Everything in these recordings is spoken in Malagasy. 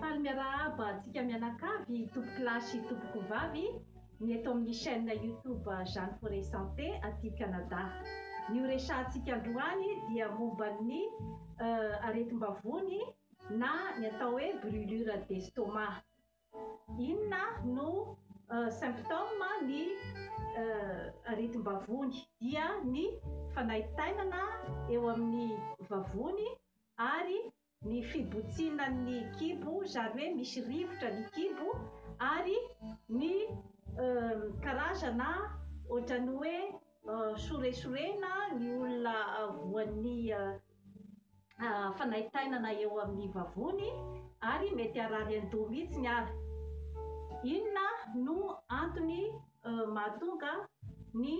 Faly miarahaba antsika mianakavy tompoko lahy sy tompoko vavy ny eto amin'ny chaîne YouTube Jeanne Forêt Santé aty Canada. Ny ho resahantsika androany dia momba ny aretim-bavony na ny atao hoe brûlure d'estomac. Inona no symptôme ny aretim-bavony? Dia ny fanaintainana eo amin'ny vavony ary ny fibotsinan'ny kibo, izany hoe misy rivotra ny kibo ary ny karazana ohatran'ny hoe. Soresorena ny olona voan'ny fanaintainana eo amin'ny vavony ary mety harary an-doha mihitsy ny ara. Inona no antony mahatonga ny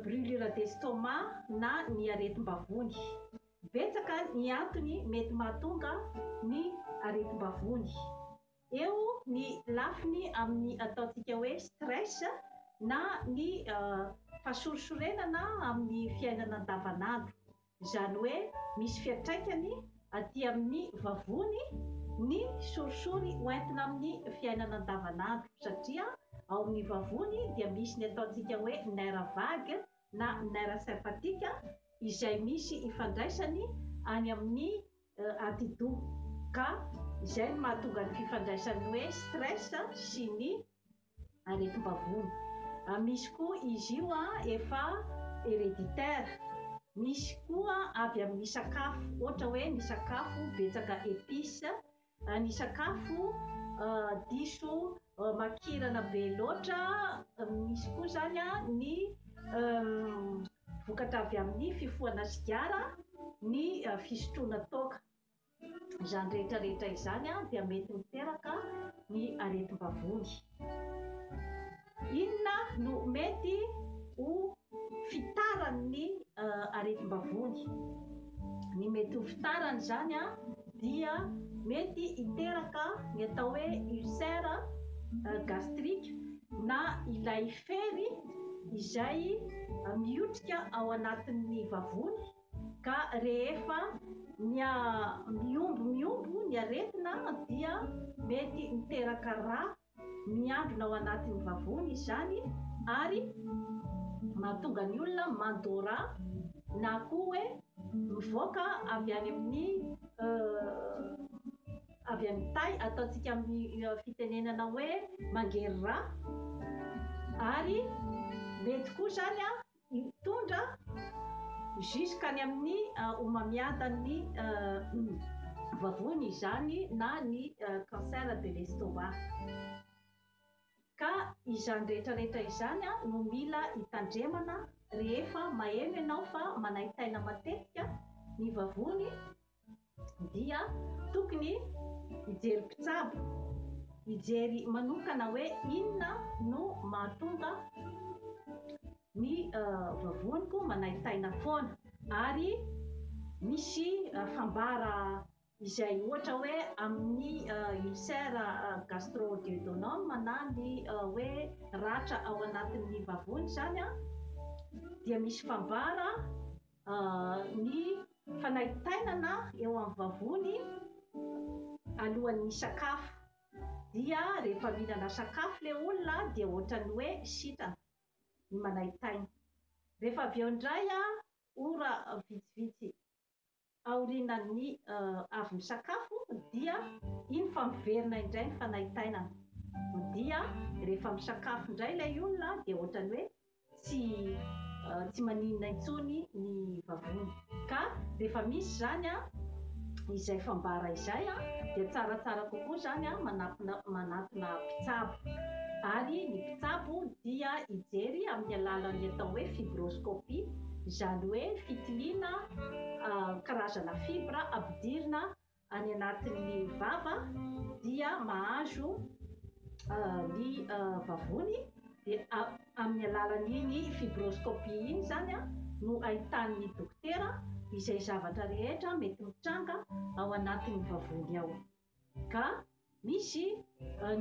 brûlure d'estomac na ny aretim-bavony? Betsaka ny antony mety mahatonga ny aretim-bavony. Eo ny lafiny amin'ny ataontsika hoe stress na ny fahasorisorenana amin'ny fiainana andavanandro. Izany hoe misy fiantraikany aty amin'ny vavony ny sorisory ho entina amin'ny fiainana andavanandro satria ao amin'ny vavony dia misy ny ataontsika hoe nerf vague na nerf sympathique izay misy ifandraisany any amin'ny atidoha, ka izay no mahatonga ny fifandraisan'ny hoe stress sy ny aretim-bavony. Misy koa izy io efa hereditaire, misy koa avy amin'ny sakafo, ohatra hoe ny sakafo betsaka épices, ny sakafo diso Makirana be loatra, misy koa izany ny vokatra avy amin'ny fifohana sigara, ny fisotroana toaka. Izany rehetra rehetra izany dia mety miteraka ny aretim-bavony. Inona no mety ho fitarany ny aretim-bavony. Ny mety ho fitarany izany dia mety hiteraka ny atao hoe ulcère gastrique na ilay fery izay mihotrika ao anatin'ny vavony ka rehefa miombo miombo ny aretina dia mety miteraka rà Miambina ao anatin'ny vavony izany ary mahatonga ny olona mandôra na koa hoe mivoaka avy any amin'ny avy amin'ny tay, ataontsika amin'ny fitenenana hoe mangery rà ary mety koa izany an! Mitondra jusqu'à ny amin'ny homamiadan'ny vavony izany na ny cancer de l'estomac. Ka izany rehetra rehetra izany no mila hitandremana rehefa maheno ianao fa manaintaina matetika ny vavony dia tokony hijery mpitsabo, hijery manokana hoe inona no mahatonga ny vavoniko manaintaina foana ary misy fambara izay ohatra hoe amin'ny ulcère gastro-duodenum na ny hoe ratra ao anatin'ny vavony izany dia misy fambara ny fanaintainana eo amin'ny vavony alohan'ny misakafo dia rehefa mihinana sakafo ilay olona dia ohatran'ny hoe sitrana ny manaintaina. Rehefa avy eo indray ora vitsivitsy aorianan'ny avy misakafo dia iny fa miverina indray ny fanaintainana dia rehefa misakafo indray ilay olona dia ohatran'ny hoe tsy tsy maninona intsony ny vavony ka rehefa misy izany a izay fambara izay a dia tsaratsara kokoa izany a manatona manatona mpitsabo ary ny mpitsabo dia hijery amin'ny alalan'ny atao hoe fibroscopie izany hoe fitiliana karazana fibra ampidirina any anatin'ny vava dia mahazo ny vavony dia amin'ny alalan'iny fibroscopie iny izany no ahitan'ny dokotera izay zavatra rehetra mety mitranga ao anatin'ny vavony ao ka misy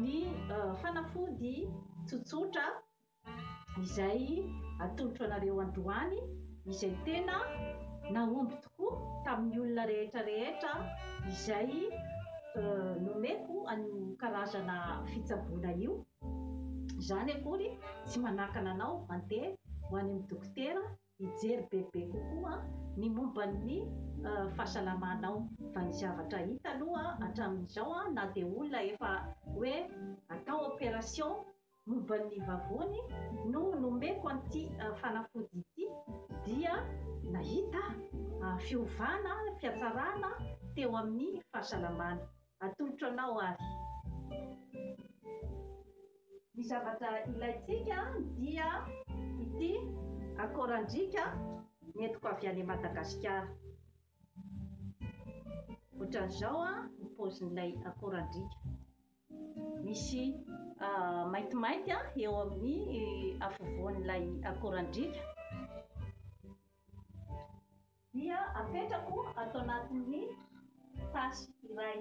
ny fanafody tsotsotra Izay atolotro anareo androany izay tena nahomby tokoa tamin'ny olona rehetra rehetra izay nomeko an'io karazana fitsaboana io. Izany akory tsy manakana anao handeha ho any amin'ny dokotera hijery bebe kokoa ny momba ny fahasalamanao fa ny zavatra hita aloha hatramin'izao na dia olona efa hoe atao operation Momba ny vavony no nomeko an'ity fanafody ity dia nahita fiovana, fihatsarana teo amin'ny fahasalamana. Atolotro anao ary. Ny zavatra ilaintsika dia ity akorandriaka nentiko avy any Madagasikara. Ohatran'izao ny paozin'ilay akorandriaka. Misy maintimainty eo amin'ny afovoan'ilay akorandriaka dia apetrako ato anatin'ny tasy iray.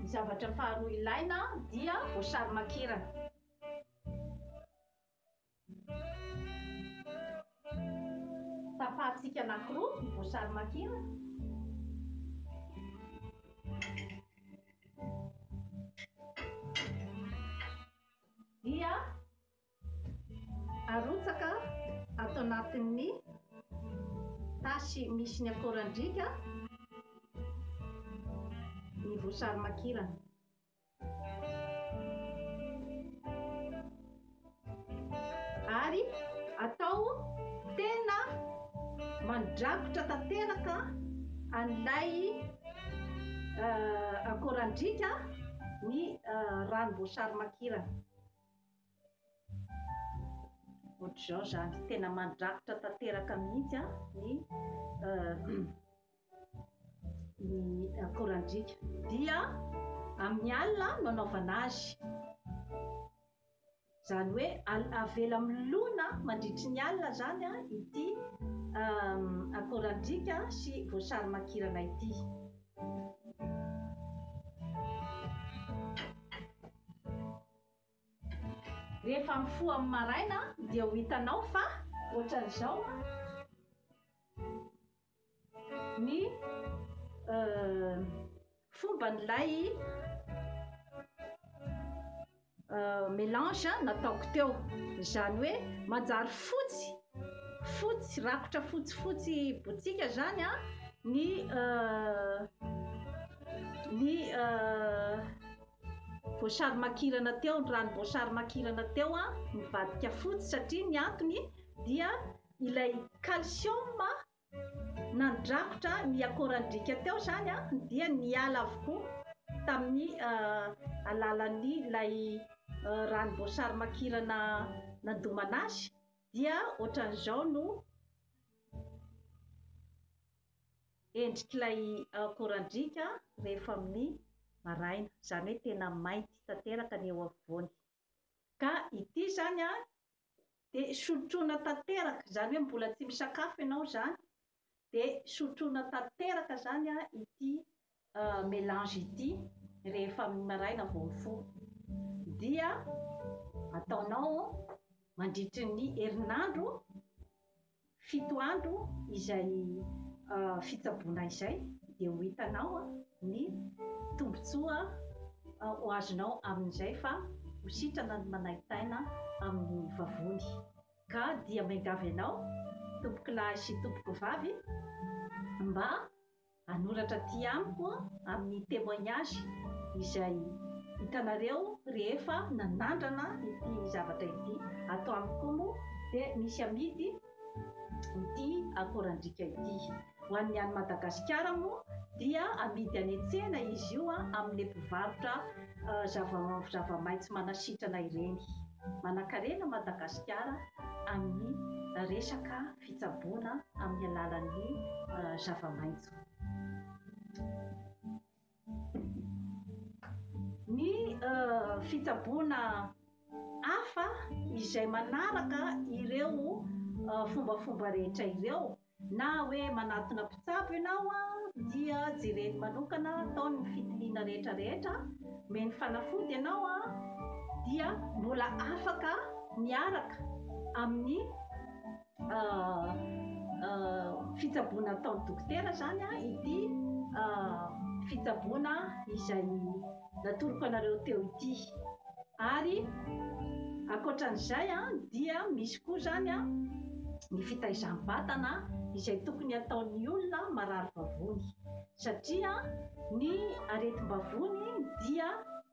Ny zavatra faharoa ilaina dia voasary makirana. Tapahantsika anankiroa ny voasary makirana. Dia arotsaka ato anatin'ny tasy misy ny akorandriaka ny voasary makirana. ary atao tena mandrakotra tanteraka an'ilay euh, akorandriaka ny euh, ranom-boasary makirana ohatr'izao zany tena mandrakotra tanteraka mihitsy a ny euh, ny akorandriaka dia amin'ny alina no anaovana azy izany hoe avela milona mandritry ny alina izany an ity akorandriaka sy voasary makirana ity rehefa mifoha amin'ny maraina dia ho hitanao fa ohatran'izao ny fomban'ilay melange nataoko teo, izany hoe manjary fotsy fotsy rakotra fotsifotsy botsiaka izany an ny ny voasary makirana teo, ny ranom-boasary makirana teo an, nivadika fotsy satria ny antony dia Ilay calcium nandrakotra ny akorandriaka teo izany dia niala avokoa tamin'ny alalan'ny ilay ranom-boasary makirana nandomana azy dia ohatran'izao no endrik'ilay akorandriaka rehefa amin'ny maraina, izany hoe tena mainty tanteraka ny eo afovoany. Ka ity izany an, dia sotroina tanteraka, izany hoe mbola tsy misakafo ianao izany, dia sotroina tanteraka izany an ity melange ity rehefa amin'ny maraina vao mifoha. Dia ataonao mandritry ny herinandro. Fito andro izay fitsaboana izay dia ho hitanao ny tombontsoa ho azonao amin'izay fa ho sitrana ny manaintaina amin'ny vavony. Ka dia miangavy anao tompokolahy sy tompokovavy mba Hanoratra aty amiko amin'ny témoignage izay hitanareo rehefa nanandrana ity zavatra ity. Ato amiko koa moa dia misy amidy ity akorandriaka ity. Ho an'ny any Madagasikara moa dia amidy any an-tsena izy io amin'ilay mpivarotra zava-maitso manasitrana ireny. Manankarena Madagasikara amin'ny resaka. fitsaboana amin'ny alalan'ny zava-maitso. Ny fitsaboana hafa izay manaraka ireo fombafomba rehetra ireo na hoe manatona mpitsabo ianao a dia jereny manokana atao ny fitiliana rehetra rehetra meny fanafody ianao a dia mbola afaka miaraka amin'ny fitsaboana ataon'ny dokotera izany an ity fitsaboana izay natoroko anareo teo ity ary ankoatran'izay an dia misy koa izany an ny fitaizam-batana izay tokony ataon'ny olona marary vavony satria ny aretim-bavony dia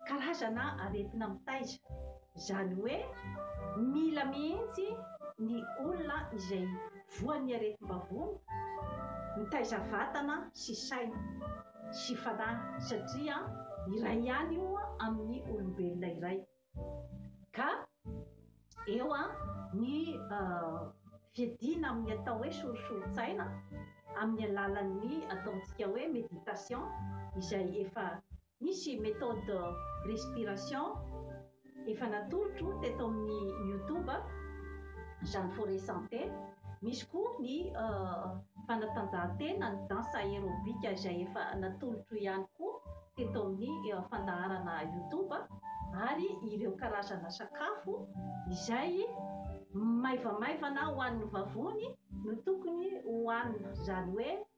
karazana aretina mitaiza Izany hoe mila mihitsy ny olona izay voan'ny aretim-bavony mitaiza vatana sy saina sy fanahy satria iray ihany io amin'ny olombelona iray ka eo ny fiadiana amin'ny atao hoe sorisorin-tsaina amin'ny alalan'ny ataontsika hoe méditation izay efa Misy méthode respiration efa natolotro teto amin'ny youtube Jeanne Forêt Santé, misy koa ny fanatanjahantena ny danse aérobique izay efa natolotro ihany koa teto amin'ny fandaharana youtube ary ireo karazana sakafo izay maivamaivana ho an'ny vavony no tokony ho hanina izany hoe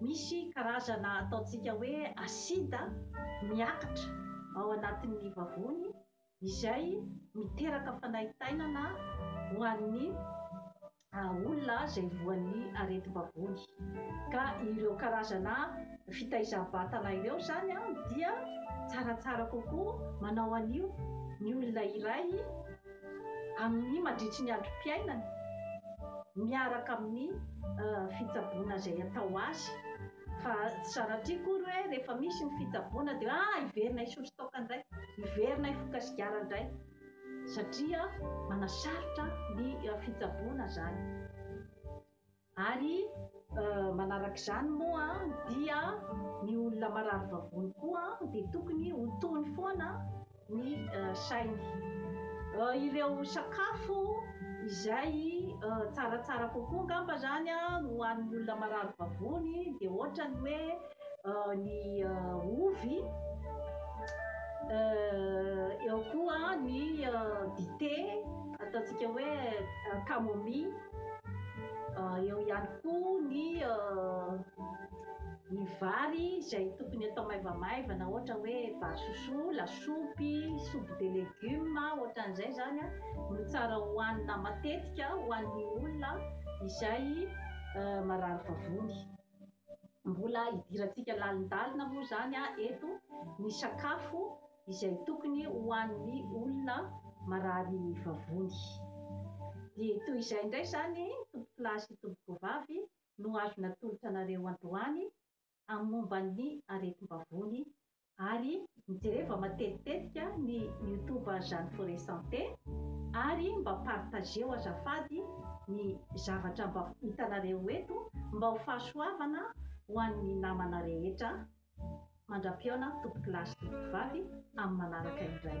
Misy karazana ataontsika hoe asida miakatra ao anatin'ny vavony izay miteraka fanaintainana ho an'ny olona izay voan'ny aretim-bavony. Ka ireo karazana fitaizam-batana ireo izany dia tsaratsara kokoa manao an'io ny olona iray. amin'ny mandritry ny androm-piainany miaraka amin'ny fitsaboana izay atao azy fa tsy sanatria akory hoe rehefa misy ny fitsaboana dia ah hiverina hisotro toaka indray, hiverina hifoka sigara indray satria manasarotra ny fitsaboana izany. Ary manaraka izany moa dia ny olona marary vavony koa dia tokony ho tony foana ny sainy. Ireo sakafo izay tsaratsara kokoa angamba izany ho an'ny olona marary vavony dia ohatra ny hoe ny ovy, eo koa ny dite ataontsika hoe camomille. Ah, eo ihany koa ny ah, ny vary izay tokony atao maivamaivana ohatra hoe vary sosoa, lasopy, soupe de légumes ohatran'izay zany a no tsara hohanina matetika ho an'ny olona izay ah, marary vavony. Mbola idirantsika lalindalina moa zany a eto ny sakafo izay tokony ho an'ny olona marary vavony. Dia toy izay indray izany, tompokolahy sy tompokovavy, no azo natolotra anareo androany amin'ny momba ny aretim-bavony, ary jereva matetitetika ny youtube Jeanne Forêt Santé, ary mba partageo azafady ny zavatra mba hitanareo eto mba ho fahasoavana ho an'ny namana rehetra, Mandra-pihaona tompoko lahy sy tompoko vavy amin'ny manaraka indray.